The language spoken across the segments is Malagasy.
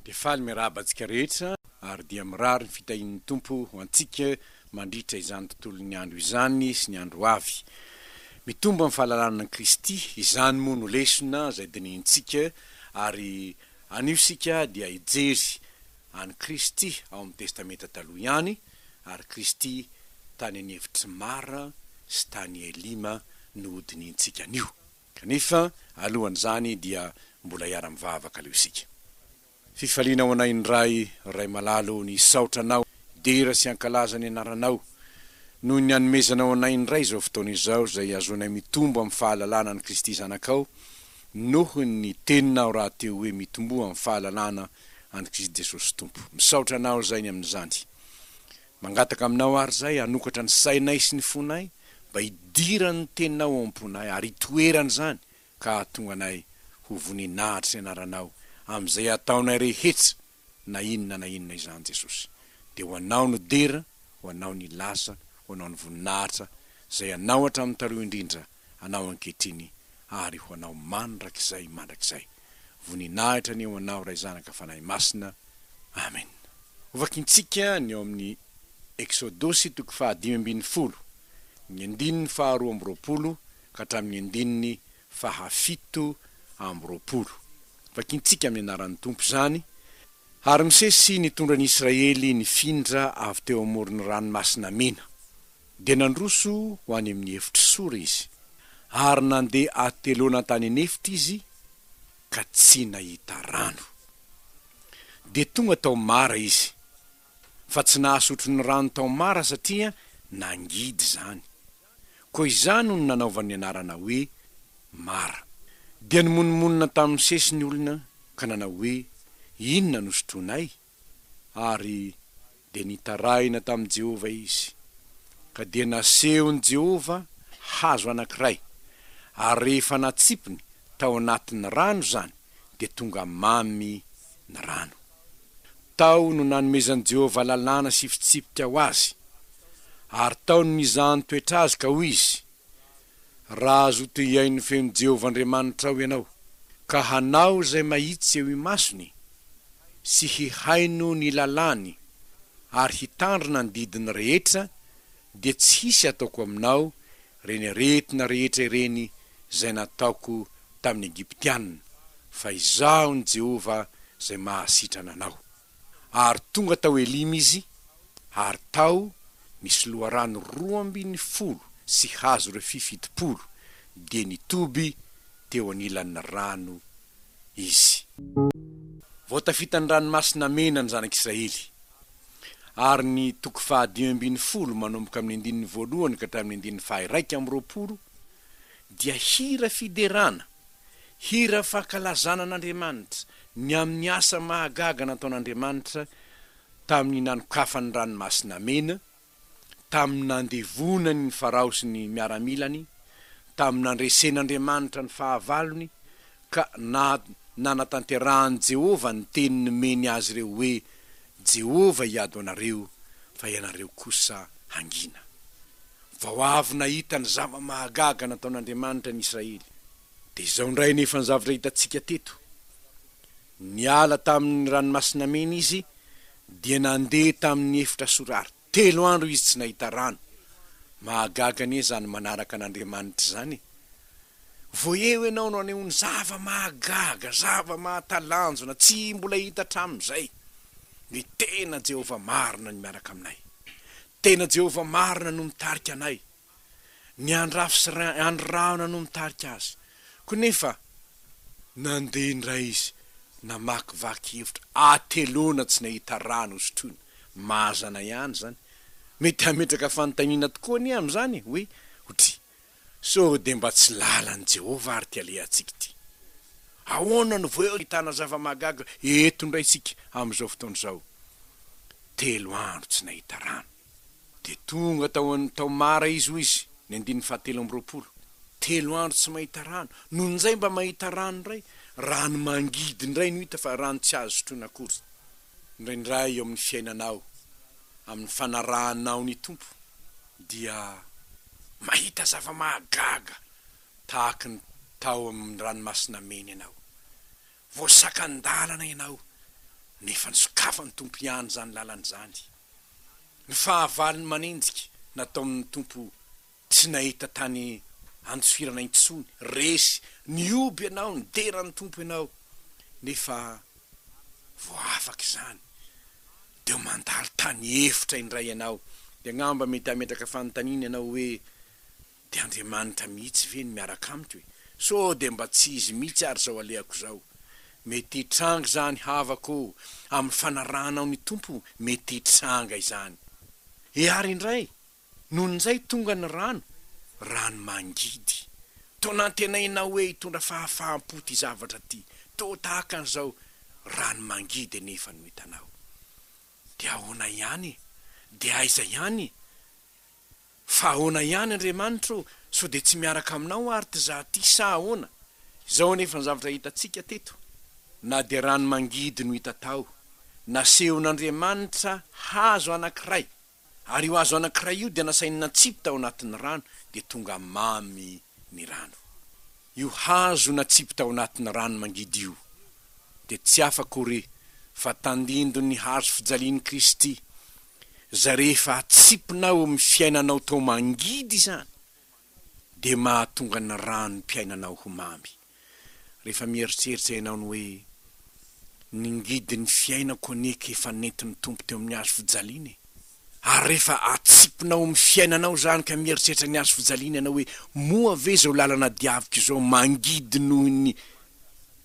Dia faly miarahaba antsika rehetra ary dia mirary ny fitahian'ny Tompo ho antsika mandritra izany tontolon'ny andro izany sy ny andro ho avy. Mitombo amin'ny fahalalana an'i Kristy, izany moa no lesona izay dinihintsika ary anio isika dia hijery an'i Kristy ao amin'ny Testamenta Taloha ihany ary Kristy tany an'Evitry Mara sy tany Elima no hodinihintsika anio. Kanefa alohan'izany dia mbola hiara-mivavaka aloha isika. Fifaliana ho anay ny Ray, Ray Malala ô, nisaotra Anao, hidera sy hankalaza ny Anaranao, noho ny nanomezanao anay indray izao fotoana izao izay ahazoanay mitombo amin'ny fahalalana an'i Kristy Zanakao, noho ny Teninao rahateo hoe mitomboa amin'ny fahalalana an'i Kristy Jesosy Tompo. Misaotra Anao izay ny amin'izany. Mangataka aminao àry izahay hanokatra ny sainay sy ny fonay mba hidiran'ny Teninao ao am-ponay ary hitoerany izany ka hahatonga anay ho voninahitry ny Anaranao amin'izay ataonay rehetsa na inona na inona izany Jesosy. Dia ho Anao no dera, ho Anao ny lasa, ho Anao ny voninahitra, izay Anao hatramin'ny taloha indrindra. anao ankehitriny ary ho anao mandrakizay mandrakizay. Voninahitra anie ho anao Ray Zanaka Fanahy Masina. Amena. Hovakintsika ny ao amin'ny Eksodosy toko fahadimy ambin'ny folo, ny andininy faharoa amby roapolo ka hatramin'ny andininy fahafito amby roapolo. Vakintsika amin'ny anaran'ny Tompo izany, Ary Mosesy nitondra ny Israely nifindra avy teo amoron'ny Ranomasina Mena. Dia nandroso ho any amin'ny efitr'i Sora izy, ary nandeha ateloana tany an'efitra izy ka tsy nahita rano. Dia tonga tao Mara izy, fa tsy nahasotro ny rano tao Mara satria nangidy izany. Koa izany no nanaovany ny anarana hoe Mara. Dia nimonomonona tamin'i Mosesy ny olona ka nanao hoe, Inona no sotroinay? ary dia nitarahina tamin'i Jehovah izy. Ka dia nasehon'i Jehovah hazo anankiray, ary rehefa natsipiny tao anatin'ny rano izany, dia tonga mamy ny rano. Tao no nanomezan'i Jehovah lalàna sy fitsipika ho azy, ary tao no nizahan-toetra azy, ka hoy izy, Raha azo tohiain'ny feon'i Jehovah Andriamanitrao ianao, ka hanao izay mahitsy eo imasony, sy hihaino ny lalàny, ary hitandrina ny didiny rehetra, dia tsy hisy hataoko aminao ireny aretina rehetra ireny izay nataoko tamin'ny Egyptiana, fa Izaho ny Jehovah izay mahasitrana anao. ary tonga tao Elima izy, ary tao nisy loharano roa ambin'ny folo sy hazo refy fitopolo, dia nitoby teo anilan'ny rano izy. Vao tafita ny Ranomasina Mena ny Zanak' Israely, ary ny toko fahadimy ambin'ny folo manomboka amin'ny andininy voalohany ka hatramin'ny andininy faha-iraika amby roapolo dia hira fiderana, Hira fankalazana an'Andriamanitra ny amin'ny asa mahagaga nataon'Andriamanitra tamin'ny nanokafany ny Ranomasina Mena, tamin'ny nandevonany ny Farao sy ny miaramilany, tamin'ny nandresen'Andriamanitra ny fahavalony, ka na nanatanterahan'i Jehovah ny teny nomeny azy ireo hoe, Jehovah hiady ho anareo, fa ianareo kosa hangina. Vao avy nahita ny zava-mahagaga nataon'Andriamanitra ny Israely. Dia izao indray anefa ny zavatra hitantsika teto. Niala tamin'ny Ranomasina Mena izy, dia nandeha tamin'ny efitra sorary. Telo andro izy tsy nahita rano. Mahagaga anie izany manaraka an'Andriamanitra izany e! Vao eo ianao no anehoany zava-mahagaga, zava-mahatalanjona, tsy mbola hita hatramin'izay. Ny tena Jehovah marina no miaraka aminay. Tena Jehovah marina no mitarika anay. Ny andry rafy sy ry andry rahona no mitarika azy. Koa nefa nandeha indray izy namakivaky hevitra. Ateloana tsy nahita rà nosotroina. Mazana ihany izany. Mety hametraka fanontaniana tokoa anie amin'izany hoe, Hoatria. Sao dia mba tsy lalan'i Jehovah àry ity alehantsika ity? Ahoana no vao ahitana zava-mahagaga eto indray isika amin'izao fotoana izao? Telo andro tsy nahita rano. Dia tonga tao an, tao Mara izy, hoy izy, ny andininy fahatelo amby roapolo. Telo andro tsy mahita rano, nony indray mba mahita rano indray. Rano mangidy indray no hita, fa rano tsy azo sotroina akory. Indraindray eo amin'ny fiainanao, amin'ny fanarahanao ny Tompo, dia mahita zava-mahagaga tahaky ny tao amin'ny Ranomasina Mena ianao. Voasakan-dalana ianao, nefa nosokafan'ny Tompo ihany izany lalana izany. Ny fahavalony manenjika nataon'ny Tompo tsy nahita tany an-tsoirana intsony, resy, nihoby ianao, nidera ny Tompo ianao, nefa voaafaka izany. Dia mandalo tany efitra indray ianao, dia angamba mety hametraka fanontaniana ianao hoe, Dia Andriamanitra mihitsy ve no miaraka amiko e? Sao dia mba tsy Izy mihitsy ary izao alehako izao? Mety hitranga izany havako ô! Amin'ny fanarahanao ny Tompo, mety hitranga izany. E Ary indray, Nony izay tonga ny rano, rano mangidy. Toa nantenaina hoe hitondra fahafaham-po ity zavatra ity, toa tahaka an'izao rano mangidy anefa no hitanao. Dia ahoana ihany? Dia aiza ihany? Fa ahoana ihany Andriamanitra ô? Sao dia tsy miaraka aminao ary ty za ty sa ahoana? Izao anefa ny zavatra hitantsika teto, na dia rano mangidy no hita tao, nasehon'Andriamanitra hazo anankiray, Ary io hazo anankiray io dia nasainy natsipy tao anatin'ny rano, dia tonga mamy ny rano. Io hazo natsipy tao anatin'ny rano mangidy io dia tsy hafa akory fa tandindon'ny hazo fijalian'i Kristy, izay rehefa atsipinao eo amin'ny fiainanao tao mangidy izany, dia mahatonga ny ranom-piainanao ho mamy. Rehefa mieritreritra ianao ny hoe, Ny ngidin'ny fiainako anie ka efa nentin'ny Tompo teo amin'ny hazo fijaliana e! Ary rehefa atsipina ao amin'ny fiainanao izany ka mieritreritra ny hazo fijaliana ianao hoe, Moa ve izao lalana diaviko izao mangidy noho ny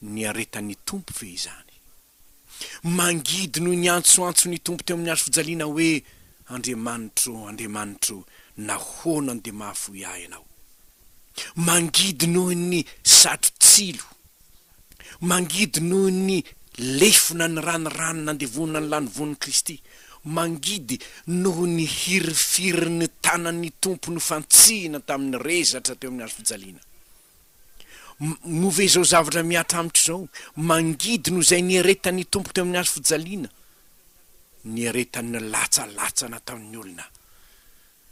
niaretan'ny Tompo ve izany? Mangidy noho ny antsoantso ny Tompo teo amin'ny hazofijaliana hoe, Andriamanitro, Andriamanitro, nahoana no dia mahafoy ahy Ianao? Mangidy noho ny satro-tsilo. Mangidy noho ny lefona niranirany nandevona ny lanivoan'i Kristy. Mangidy noho ny hirifirin'ny tanan'ny Tompo nofantsihina tamin'ny rezatra teo amin'ny hazofijaliana. Move izao zavatra mihatra amiko izao, mangidy noho izay niaretan'ny Tompo teo amin'ny hazo fijaliana, niaretan'ny latsalatsa nataon'ny olona,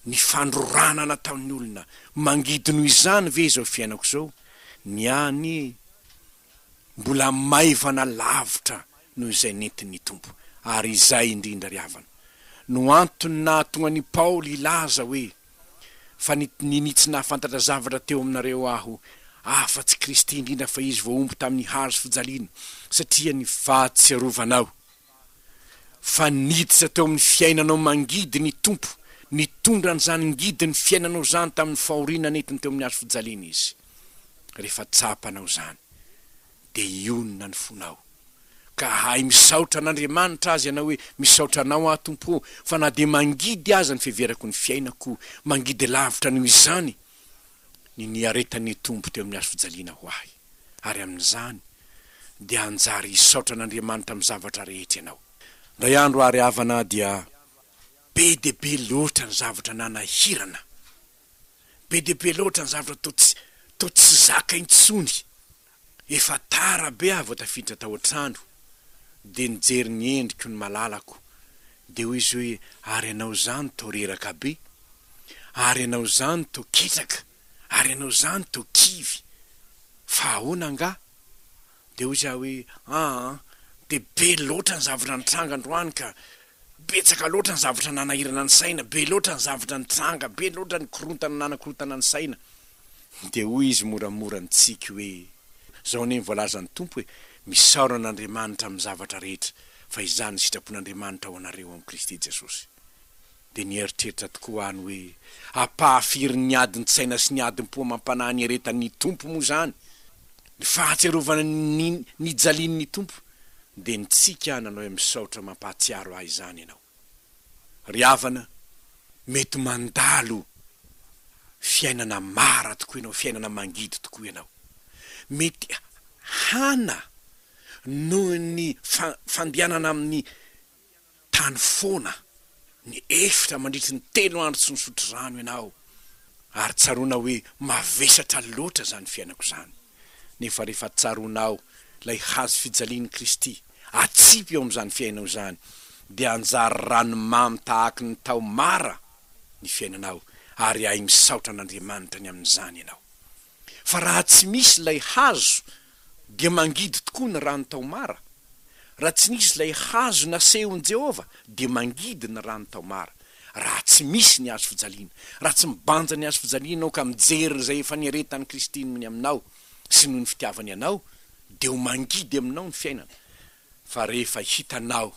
ny fandrorana nataon'ny olona, mangidy noho izany ve izao fiainako izao? Ny ahy anie mbola maivana lavitra noho izay nentin'ny Tompo, ary izay indrindra ry havana no antony nahatonga an'i Paoly hilaza hoe, Fa ninia tsy nahafantatra zavatra teo aminareo aho, afa tsy Kristy indrindra fa Izy voahombo tamin'ny hazo fijaliana, satria ny fahatsiarovanao fa niditra teo amin'ny fiainanao mangidy ny Tompo, nitondra an'izany ngidin'ny fiainanao izany tamin'ny fahoriana nentiny teo amin'ny hazo fijaliana Izy, rehefa tsapanao izany. dia hionona ny fonao, ka hahay misaotra an'Andriamanitra azy ianao hoe, Misaotra Anao aho, Tompo ô, fa na dia mangidy aza ny fiheverako ny fiainako, mangidy lavitra noho izany ny niaretan'ny Tompo teo amin'ny hazofijaliana ho ahy. Ary amin'izany dia hanjary hisaotra an'Andriamanitra amin'ny zavatra rehetra ianao. Indray andro àry havana dia be dia be loatra ny zavatra nanahirana, be dia be loatra ny zavatra toa tsy, toa tsy zaka intsony. Efa tara be aho vao tafiditra tao an-trano dia nijery ny endriko ny malalako dia hoy izy hoe ary ianao izany toa reraka be? Ary ianao izany toa ketraka? Ary ianao izany toa kivy? Fa ahoana angaha? Dia hoy izy aho hoe aa dia be loatra ny zavatra nitranga androany ka! Betsaka loatra ny zavatra nanahirana ny saina, be loatra ny zavatra nitranga, be loatra ny korontana nanakorontana ny saina. Dia hoy izy moramora nitsiky hoe, Izao anie ny voalazan'ny Tompo hoe, Misaora an'Andriamanitra amin'ny zavatra rehetra, fa izany ny sitrapon'Andriamanitra ho anareo amin'i Kristy Jesosy. Dia nieritreritra tokoa aho ny hoe, Apaha firy ny adin-tsaina sy ny adim-po amam-panahy niaretan'ny Tompo moa izany! Ny fahatsiarovana ny nijalian'ny Tompo! Dia nitsiky aho nanao hoe, Misaotra mampahatsiaro ahy izany ianao. Ry havana, mety mandalo fiainana mara tokoa ianao, fiainana mangidy tokoa ianao. Mety hana noho ny fandehanana amin'ny tany foana, ny efitra mandritry ny telo andro tsy nisotro rano ianao, ary tsaroana hoe mavesatra loatra izany fiainako izany. nefa rehefa tsaroanao ilay hazo fijalian'i Kristy, atsipy eo amin'izany fiainao izany, dia hanjary ranomamy tahaky ny tao Mara ny fiainanao, ary hay misaotra an'Andriamanitra ny amin'izany ianao. Fa raha tsy misy ilay hazo, dia mangidy tokoa ny rano tao Mara. Raha tsy nisy ilay hazo nasehon'i Jehovah, dia mangidy ny rano tao Mara. Raha tsy misy ny hazo fijaliana, raha tsy mibanja ny hazo fijalianao ka mijery izay efa niaretan'i Kristy noho ny aminao sy noho ny fitiavany anao, dia ho mangidy aminao ny fiainana. Fa rehefa hitanao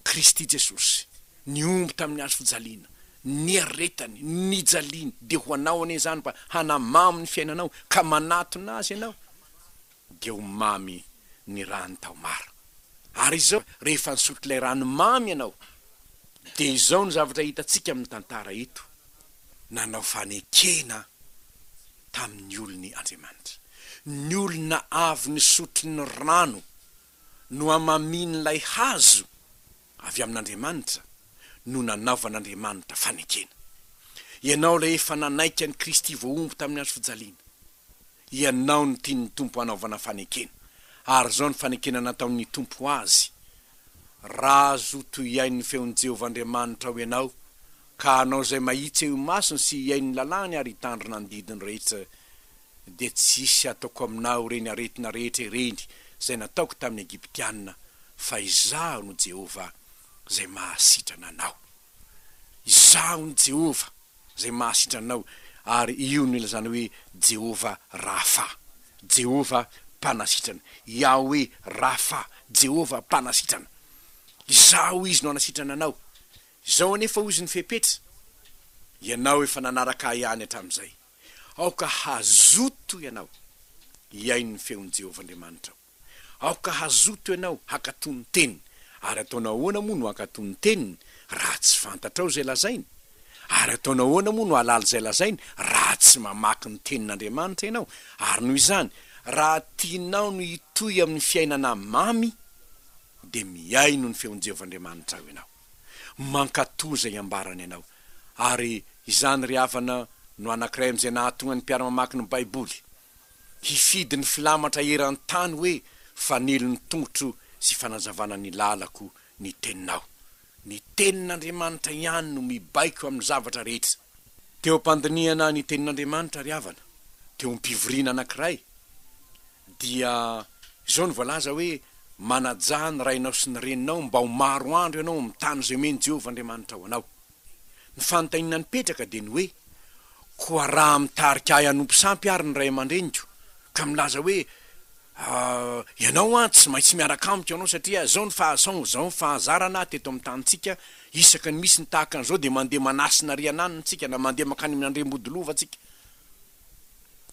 Kristy Jesosy nihombo tamin'ny hazo fijaliana, niaretany, nijaliany, dia ho anao anie izany mba hanamamo ny fiainanao ka manatona Azy ianao. dia ho mamy ny rano tao mara. Ary izao, rehefa nisotro ilay rano mamy ianao, dia izao no zavatra hitantsika amin'ny tantara eto, Nanao fanekena tamin'ny olony Andriamanitra. Ny olona avy nisotro ny rano. no hamamian'ilay hazo avy amin'Andriamanitra no nanaovan'Andriamanitra fanekena. Ianao ilay efa nanaiky an'i Kristy voahombo tamin'ny hazo fijaliana. Ianao no tian'ny Tompo hanaovana fanekena, ary izao no fanekena nataon'ny Tompo ho azy, Razo toy hihain'ny feon'i Jehovah Andriamanitra ao ianao, ka hanao izay mahitsy eo imasony sy hihaino ny lalàny ary hitandrina ny didiny rehetra dia tsy hisy ataoko aminao ireny aretina rehetra ireny izay nataoko tamin'ny Egyptiana, fa Izaho no Jehovah, Izay mahasitrana anao. Izaho no Jehovah, Izay mahasitra anao, ary io no ilazana hoe Jehovah Rapha, Jehovah Mpanasitrana, Yahweh Rapha, Jehovah Mpanasitrana. Izaho Izy no hanasitrana anao. Izao anefa hoy Izy ny fepetra, Ianao efa nanaraka Ahy ihany hatramin'izay. Aoka hazoto ianao hihaino ny feon'i Jehovah Andriamanitrao. Aoka hazoto ianao hankatò ny teniny. Ary ataonao ahoana moa no hankatò ny teniny raha tsy fantatrao izay lazainy? Ary ataonao ahoana moa no hahalala izay lazainy raha tsy mamaky ny Tenin'Andriamanitra ianao? Ary noho izany, raha tianao ny hitohy amin'ny fiainana mamy, dia mihaino ny feon'i Jehovah Andriamanitrao ianao. Mankatoa izay ambarany ianao. Ary izany ry havana no anankiray amin'izay nahatonga ny mpiara-mamaky ny Baiboly hifidy ny filamatra eran-tany hoe fanilo ny tongotro sy fanazavana ny lalako ny Teninao. Ny Tenin'Andriamanitra ihany no mibaiko amin'ny zavatra rehetra. Teo am-pandinihana ny Tenin'Andriamanitra ry havana, teo am-pivoriana anankiray, Dia izao no voalaza hoe, Manajà ny rainao sy ny reninao mba ho maro andro ianao amin'ny tany izay omen'i Jehovah Andriamanitrao anao. Ny fanontaniana nipetraka dia ny hoe, Koa raha mitarika ahy hanompo sampy àry ny ray aman-dreniko, ka milaza hoe, Ah, ianao an, tsy maintsy miaraka amiko ianao satria izao ny fahasaon, izao ny fahazarana teto amin'ny tanintsika, isaky ny misy ny tahaka an'izao dia mandeha manasina rian'anona isika na mandeha mankany amin'ny andriambodilova isika.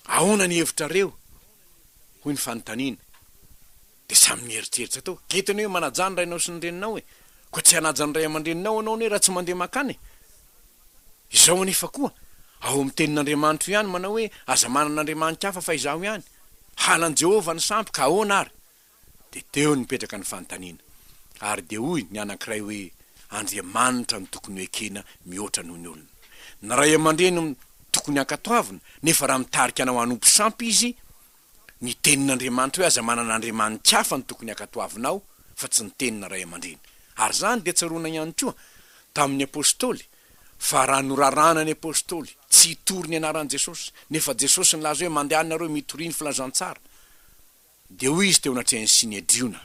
Ahoana ny hevitrareo? hoy ny fanontaniana. Dia samy nieritreritra tao. Dia hitany hoe manajà ny rainao sy ny reninao e! Koa tsy hanaja ny ray aman-dreninao ianao anie raha tsy mandeha mankany e! Izao anefa koa, ao amin'ny Tenin'Andriamanitro ihany manao hoe aza manana andriamani-kafa fa izaho ihany. Halan'i Jehovah ny sampy, ka ahoana ary? Dia teo no nipetraka ny fanontaniana. Ary dia hoy ny anankiray hoe, Andriamanitra no tokony ho ekena mihoatra noho ny olona. Ny ray aman-dreny no tokony hankatoavina, nefa raha mitarika anao hanompo sampy izy, ny Tenin'Andriamanitra hoe aza manana andriamani-kafa no tokony hankatoavinao fa tsy ny Tenina ray aman-dreny. Ary izany dia tsaroana ihany koa tamin'ny Apostoly fa raha noraràna ny Apostoly tsy hitory ny anaran'i Jesosy, nefa Jesosy nilaza hoe mandehana nareo mitoria ny filazantsara, Dia hoy izy teo anatrehan'ny Synedriona,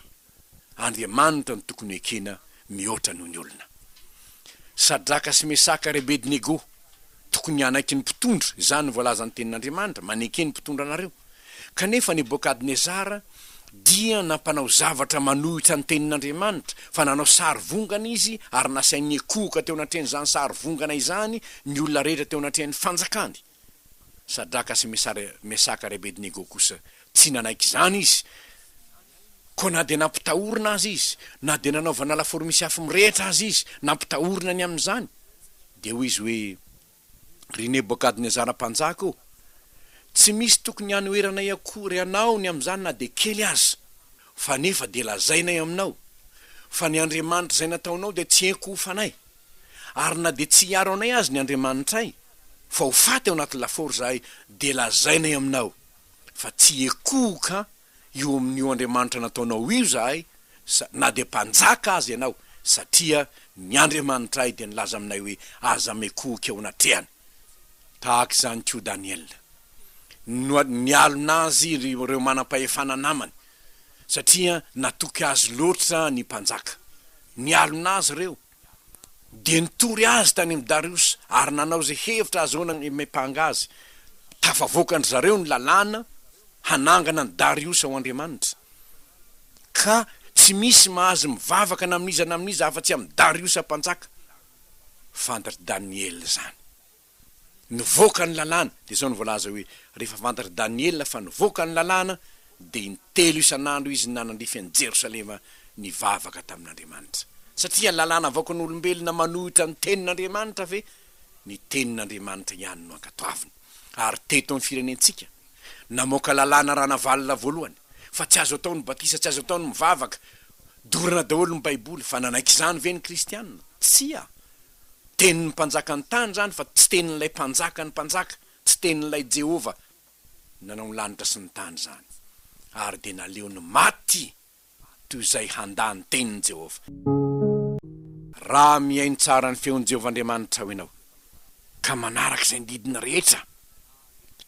Andriamanitra no tokony ho ekena mihoatra noho ny olona. Sadraka sy Mesaka ary Abednego, tokony hanaiky ny mpitondra, izany no voalazan'ny Tenin'Andriamanitra, maneke ny mpitondra anareo. Kanefa Nebokadnezara dia nampanao zavatra manohitra ny Tenin'Andriamanitra, fa nanao sarivongana izy ary nasainy niankohoka teo anatrehan'izany sarivongana izany ny olona rehetra teo anatrehan'ny fanjakany. Sadraka sy Mesaka ary Abednego kosa tsy nanaiky izany izy, koa na dia nampitahorina aza izy, na dia nanaovana lafaoro misy afo mirehitra aza izy nampitahorina ny amin'izany, dia hoy izy hoe, Ry Nebokadnezara mpanjaka ô, tsy misy tokony hanoheranay akory anao ny amin'izany na dia kely aza, fa nefa dia lazainay aminao, fa ny andriamanitra izay nataonao dia tsy henoko ho fanay. ary na dia tsy hiaro anay aza ny Andriamanitray, fa ho faty ao anaty lafaoro izahay, dia lazainay aminao fa tsy hiekohoka eo amin'io Andriamanitra nataonao io izahay, na dia mpanjaka aza ianao, satria ny Andriamanitray dia nilaza aminay hoe, Aza miekohoka eo anatrehany. Tahaka izany koa Daniela. Nialona azy ireo manam-pahefana namany, satria natoky azy loatra ny mpanjaka. Nialona azy ireo. dia nitory azy tany amin'i Dariosa ary nanao izay hevitra ahazoana ny mipanga azy. Tafavoakan-dry zareo ny lalàna hanangana an'i Dariosa ho andriamanitra, ka tsy misy mahazo mivavaka na amin'iza na amin'iza afa-tsy amin'i Dariosa mpanjaka. Fandry Daniela izany. nivoaka ny lalàna, dia izao no voalaza hoe, Rehefa fantatr'i Daniela fa nivoaka ny lalàna, dia intelo isan'andro izy nanandrify an'i Jerosalema nivavaka tamin'Andriamanitra. Satria ny lalàna avoakan'olombelona manohitra ny Tenin'Andriamanitra ve? Ny Tenin'Andriamanitra ihany no ankatoaviny. Ary teto amin'ny firenentsika, namoaka lalàna Ranavalona voalohany, fa tsy azo atao ny batisa, tsy azo atao ny mivavaka, dorana daholo ny Baiboly, fa nanaiky izany ve ny kristiana? Tsia! Tenin'ny mpanjaka ny tany izany fa tsy tenin'ilay Mpanjakan'ny mpanjaka, tsy tenin'ilay Jehovah nanao ny lanitra sy ny tany izany. Ary dia naleony maty toy izay handà ny tenin'i Jehovah. Raha mihaino tsara ny feon'i Jehovah Andriamanitrao ianao, ka manaraka izay didiny rehetra,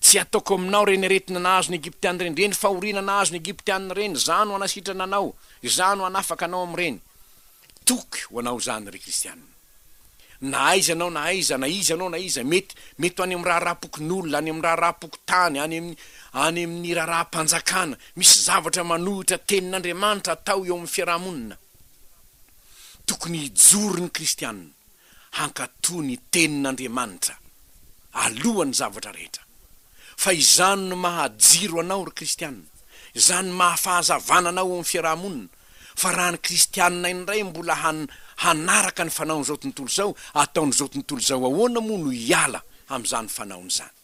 Tsy hataoko aminao ireny aretina nahazo ny Egyptiana ireny, ireny fahoriana nahazo ny Egyptiana ireny, izaho no hanasitrana anao, izaho no hanafaka anao amin'ireny. Toky ho anao izany ry kristiana. Na aiza anao na aiza, na iza anao na iza, mety, mety ho any amin'ny raharaham-pokonolona, any amin'ny raharaham-pokontany, any amin'ny, any amin'ny raharaham-panjakana, misy zavatra manohitra Tenin'Andriamanitra atao eo amin'ny fiaraha-monina. Tokony hijoro ny kristiana. hankatò ny Tenin'Andriamanitra alohan'ny zavatra rehetra. Fa izany no maha-jiro anao, ry kristiana, izany no maha-fahazavana anao eo amin'ny fiaraha-monina, fa raha ny kristiana indray mbola han-hanaraka ny fanaon'izao tontolo izao, ataon'izao tontolo izao, ahoana moa no hiala amin'izany fanaony izany?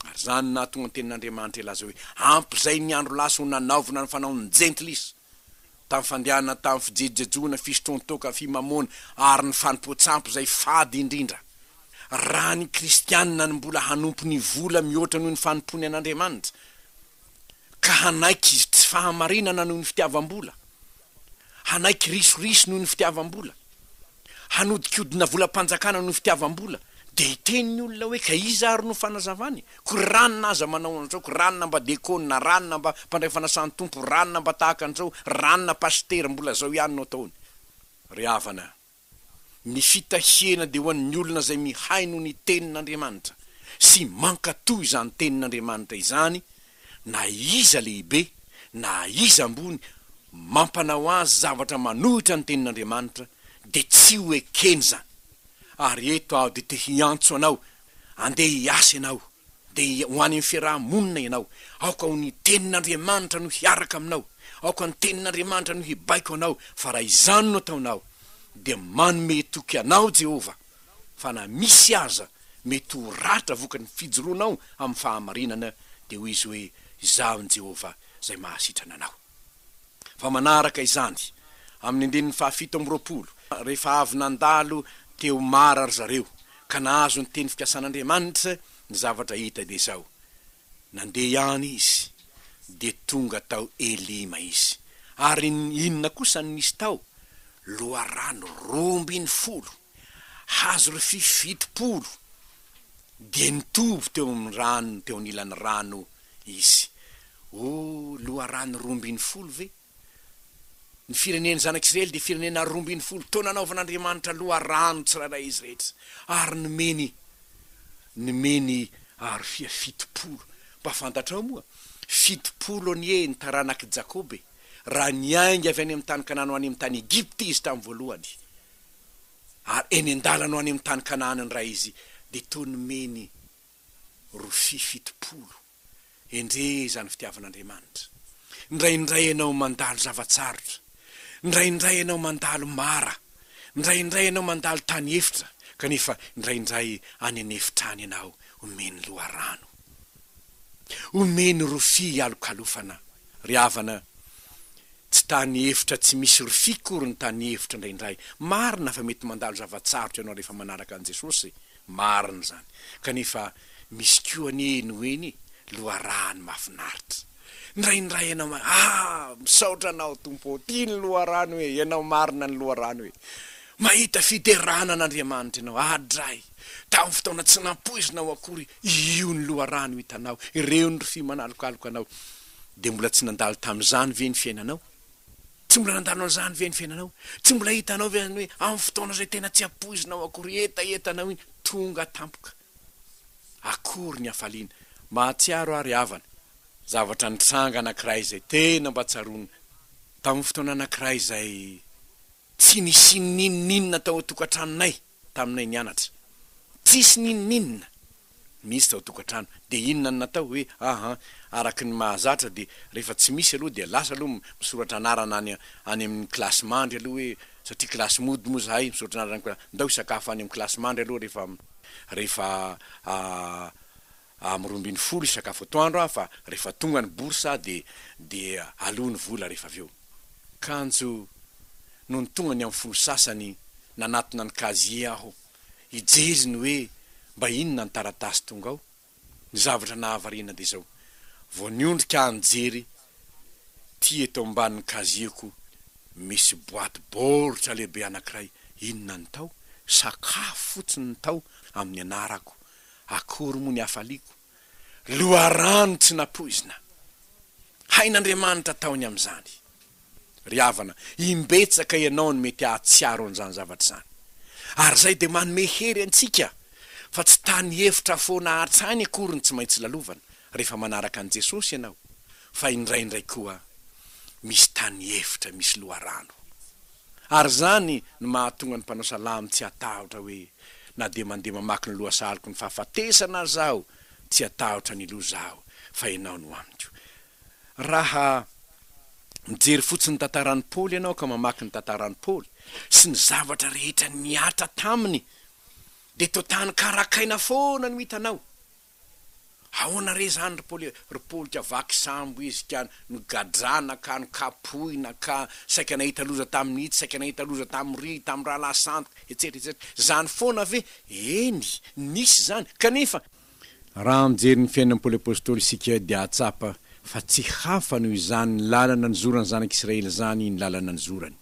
Ary izany no nahatonga ny tenin'Andriamanitra hilaza hoe, Ampy izay ny andro lasa ho nanaovana ny fanaon'ny Jentilisa, tamin'ny fandehanana tamin'ny fijejojejoana, fisotroan-toaka, fimamoana, ary ny fanompoan-tsampy izay fady indrindra. Raha ny Kristianina no mbola hanompo ny vola mihoatra noho ny fanompoany an'Andriamanitra, ka hanaiky tsy fahamarinana noho ny fitiavam-bola, hanaiky risoriso noho ny fitiavam-bola, hanodikodina volam-panjakana noho fitiavam-bola, dia hiteny ny olona hoe ka iza ary no fanazavany? Koa ranona aza manao an'izao, koa ranona mba dekôna, ranona mba mpandray fanasan-tompo, ranona mba tahaka an'izao, ranona pasitera, mbola zao ihany no ataony. Ry havana, ny fitahiana dia ho an'ny olona izay mihaino ny tenin'Andriamanitra sy mankatò izany tenin'Andriamanitra izany, na iza lehibe na iza ambony mampanao azy zavatra manohitra ny tenin'Andriamanitra dia tsy ho ekeny izany, ary eto aho dia te hiantso anao andeha hiasa ianao, dia ho any amin'ny fiaraha-monina ianao, aoka ho ny tenin'Andriamanitra no hiaraka aminao, aoka ny tenin'Andriamanitra no hibaiko anao, fa raha izany no ataonao dia manome toky anao Jehovah. fa na misy aza mety ho ratra vokatry ny fijoroanao amin'ny fahamarinana, dia hoy izy hoe, Izaho i Jehovah, izay mahasitrana anao. Fa manaraka izany, amin'ny andininy fahafito amby roapolo, rehefa avy nandalo teo Mara ry zareo, ka nahazo ny teny fikasan'Andriamanitra, ny zavatra hita dia izao, Nandeha ihany izy, dia tonga tao Elima izy. Ary inona kosa no nisy tao? Loharano roa ambin'ny folo, hazo rofia fitopolo, dia nitoby teo amin'ny rano, teo anilan'ny rano izy. Oh, loharano roa ambin'ny folo ve? Ny firenen'ny Zanak'Isiraely dia firenena roa ambin'ny folo taona anaovan'Andriamanitra loharano tsirairay izy rehetra, ary nomeny nomeny arofia fitopolo. Mba fantatrao moa? Fitopolo anie ny taranak'i Jakoba e! Raha niainga avy any amin'ny tany Kanana ho any amin'ny tany Egypta izy tamin'ny voalohany, ary eny an-dalana ho any amin'ny tany Kanaana indray izy, dia toa nomeny rofia fitopolo. Endrey izany fitiavan'Andriamanitra. Indraindray ianao mandalo zava-tsarotra. Indraindray ianao mandalo mara. Indraindray ianao mandalo tany efitra, kanefa indraindray any an'efitra any ianao omeny loharano. Omeny rofia hialokalofana. Ry havana, tsy tany efitra tsy misy rofia akory ny tany efitra indraindray. Marina fa mety mandalo zava-tsarotra ianao rehefa manaraka an'i Jesosy. Marina izany, kanefa misy koa anie eny ho eny loharahany mahafinaritra. Ndraindray ianao ma ah! Misaotra anao Tompo ô! Tia ny loharano hoe! Ianao marina ny loharano hoe! Mahita fiderana an'Andriamanitra ianao, adray! Tamin'ny fotoana tsy nampoizinao akory io ny loharano hitanao, ireo ny rofia manalokaloka anao. Dia mbola tsy nandalo tamin'izany ve ny fiainanao? Tsy mbola nandalo an'izany ve ny fiainanao? Tsy mbola hitanao ve izany hoe amin'ny fotoana izay tena tsy ampoizinao akory hetaheta anao iny, tonga tampoka? Akory ny hafaliana! Mahatsiaro aho ry havana, zavatra nitranga anankiray izay tena mba tsaroana. Tamin'ny fotoana anankiray izay tsy nisy n'inon'inona tao an-tokantranonay, taminay nianatra, tsisy n'inon'inona mihitsy tao tokantrano, dia inona no natao? hoe ahan, araka ny mahazatra dia rehefa tsy misy aloha dia lasa aloha misoratra anarana any any amin'ny kilasy mandry aloha hoe, satria kilasy mody moa zahay, misoratra anarana any, ndao hisakafo any amin'ny kilasy mandry aloha rehefa rehefa amin'ny roa ambin'ny folo hisakafo atoandro aho fa rehefa tonga ny bourse aho dia dia aloa ny vola rehefa avy eo. Kanjo nony tonga ny amin'ny folo sasany nanatona ny casier aho hijery ny hoe mba inona ny taratasy tonga ao, ny zavatra nahavariana dia izao, vao niondrika aho nijery tia eto ambanin'ny casier-ko misy boaty baoritra lehibe anankiray, inona ny tao? sakafo fotsiny ny tao amin'ny anarako Akory moa ny hafaliako, loharano tsy nampoizina. Hain'Andriamanitra taony amin'izany. Ry havana, imbetsaka ianao no mety hahatsiaro an'izany zavatra izany. Ary izay dia manome hery antsika fa tsy tany hevitra foana an-tsainy akory no tsy maintsy lalovana rehefa manaraka an'i Jesosy ianao, fa indraindray koa misy tany hevitra misy loharano. Ary izany no mahatonga ny mpanao salamo tsy hatahotra hoe, Na dia mandeha mamaky ny lohasaloko ny fahafatesana aza aho, tsy hatahotra ny loza aho, fa Ianao no amiko. Raha mijery fotsiny ny tantaran'i Paoly ianao ka mamaky ny tantaran'i Paoly sy ny zavatra rehetra nihatra taminy, dia toa tany karakaina foana no hitanao. Ahoana re zany ry Paoly e, ry polika vaky sambo izy ka nogadrana ka nokapohina ka saika nahita loza tamin'ity, saika nahita loza tamin'ry, tamin'ny rahalahy sandoka, etsetra etsetra. Zany foana ve? Eny, nisy zany, kanefa, raha mijery ny fiainan'i Paoly Apostoly isika dia hahatsapa fa tsy hafa noho izany ny lalana nizora ny zanak'Israely zany ny lalana nizorany,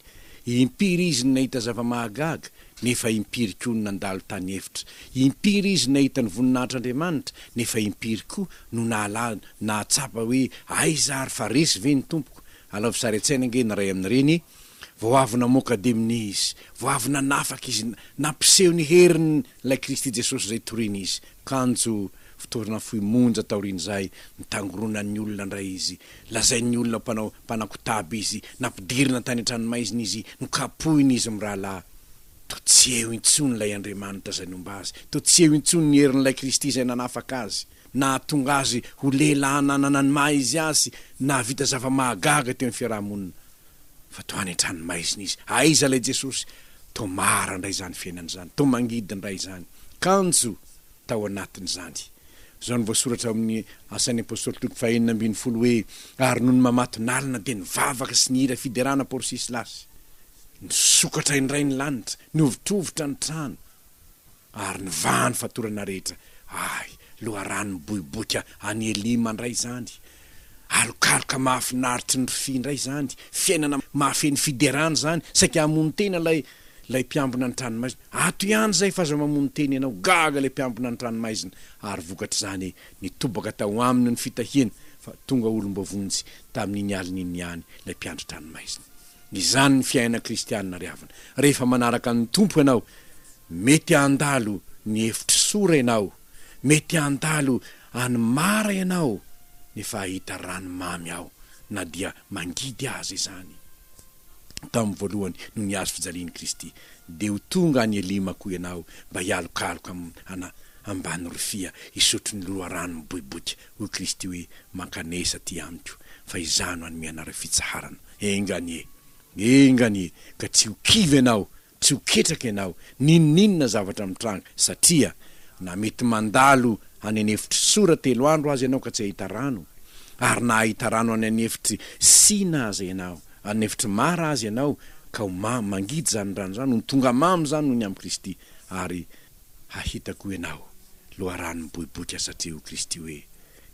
Impiry izy no nahita zava-mahagaga, nefa impiry koa no nandalo tany efitra? Impiry izy no nahita ny voninahitr'Andriamanitra, nefa impiry koa no nahalala, nahatsapa hoe, Aiza ary, fa resy ve ny Tompoko? Alaovy sary an-tsaina ange ny iray amin'ireny, Vao avy namoaka demony Izy, vao avy nanafaka Izy, nampiseho ny heriny Ilay Kristy Jesosy izay toriny izy, kanjo fitoerana fohy monja taorian'izay nitangoronan'ny olona indray izy. Lazain'ny olona mpanao mpanankotaba izy, nampidirina tany an-tranomaizina izy, nokapohina izy mirahalahy. Toa tsy eo intsony ilay Andriamanitra izay nomba azy, toa tsy eo intsony ny herin'ilay Kristy izay nanafaka azy, nahatonga azy ho lehilahy nanana ny maha izy azy, nahavita zava-mahagaga teo amin'ny fiaraha-monina. fa toa any an-tranomaizina izy. Aiza ilay Jesosy? Toa mara indray izany fiainana izany, toa mangidy indray izany. Kanjo tao anatin'izany. Izao no voasoratra ao amin'ny Asan'ny Apostoly toko fahenina ambin'ny folo hoe, Ary nony mamatonalina dia nivavaka sy nihira fiderana Porsy sy Lasy. Nisokatra indray ny lanitra, nihovitrovitra ny trano. Ary ny vahan'ny fatorana rehetra, ay, loharano miboiboika any Elima indray izany, alokaloka mahafinaritry ny rfy indray izany, fiainana mahafeno fiderana izany, saika hamono tena ilay, ilay mpiambina ny tranomaizina, ato ihany izay fa aza mamono tena ianao, gaga ilay mpiambina ny tranomaizina, ary vokatr'izany, nitobaka tao aminy ny fitahiany, fa tonga olom-boavonjy tamin'iny alina iny ihany ilay mpiandry tranomaizina. Izany ny fiainana kristianina ry havana. Rehefa manaraka ny Tompo ianao, mety handalo ny hevitr'i Sora ianao, mety handalo any Mara ianao nefa hahita rano mamy ao na dia mangidy aza izany. Tamin'ny voalohany no nihazo fijalian'i Kristy, dia ho tonga any Elima koa ianao mba hialokaloka am-, ana, ambany rofia hisotro ny loharano miboiboika. hoy Kristy hoe, Mankanesa aty amiko, fa Izaho no hanome anareo fitsaharana. Enga anie! Enga anie! Ka tsy ho kivy ianao, tsy ho ketraka ianao, n'inon'inona zavatra mitranga, satria na mety mandalo any an'efitr'i Sora telo andro aza ianao ka tsy hahita rano, ary na hahita rano any an'efitr'i Sina aza ianao, any an'efitr'i Mara aza ianao, ka ho mamy, mangidy izany rano izany, ho tonga mamy izany noho ny amin'i Kristy, ary. Hahita koa ianao loharano miboiboika satria ho Kristy hoe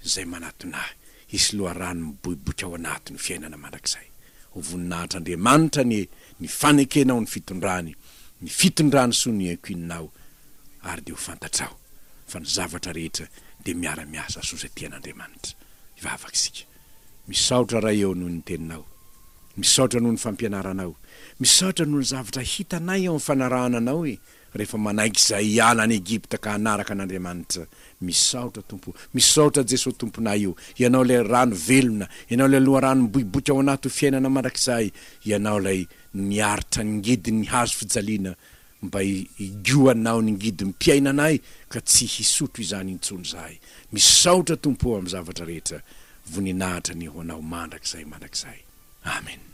izay manatona ahy, hisy loharano miboiboika ao anatiny fiainana mandrakizay. Ho voninahitr'Andriamanitra anie ny fanekenao ny fitondrany, ny fitondrany soa ny ankininao ary dia ho fantatrao fa ny zavatra rehetra dia miara-miasa soa izay tian'Andriamanitra. Hivavaka isika. Misaotra Ray eo noho ny Teninao. Misaotra noho ny fampianaranao. Misaotra noho ny zavatra hitanay eo amin'ny fanarahana Anao e. rehefa manaiky izay hiala any Egypta ka hanaraka an'Andriamanitra, misaotra Tompo o, misaotra Jeso Tomponay o, Ianao ilay rano velona, Ianao ilay loharano miboiboika ao anaty ho fiainana mandrakizay, Ianao ilay niaritra ny ngidin'ny hazo fijaliana mba higohanao ny ngidim-piainanay ka tsy hisotro izany intsony izahay, misaotra Tompo o amin'ny zavatra rehetra, voninahitra anie ho Anao mandrakizay mandrakizay. Amen.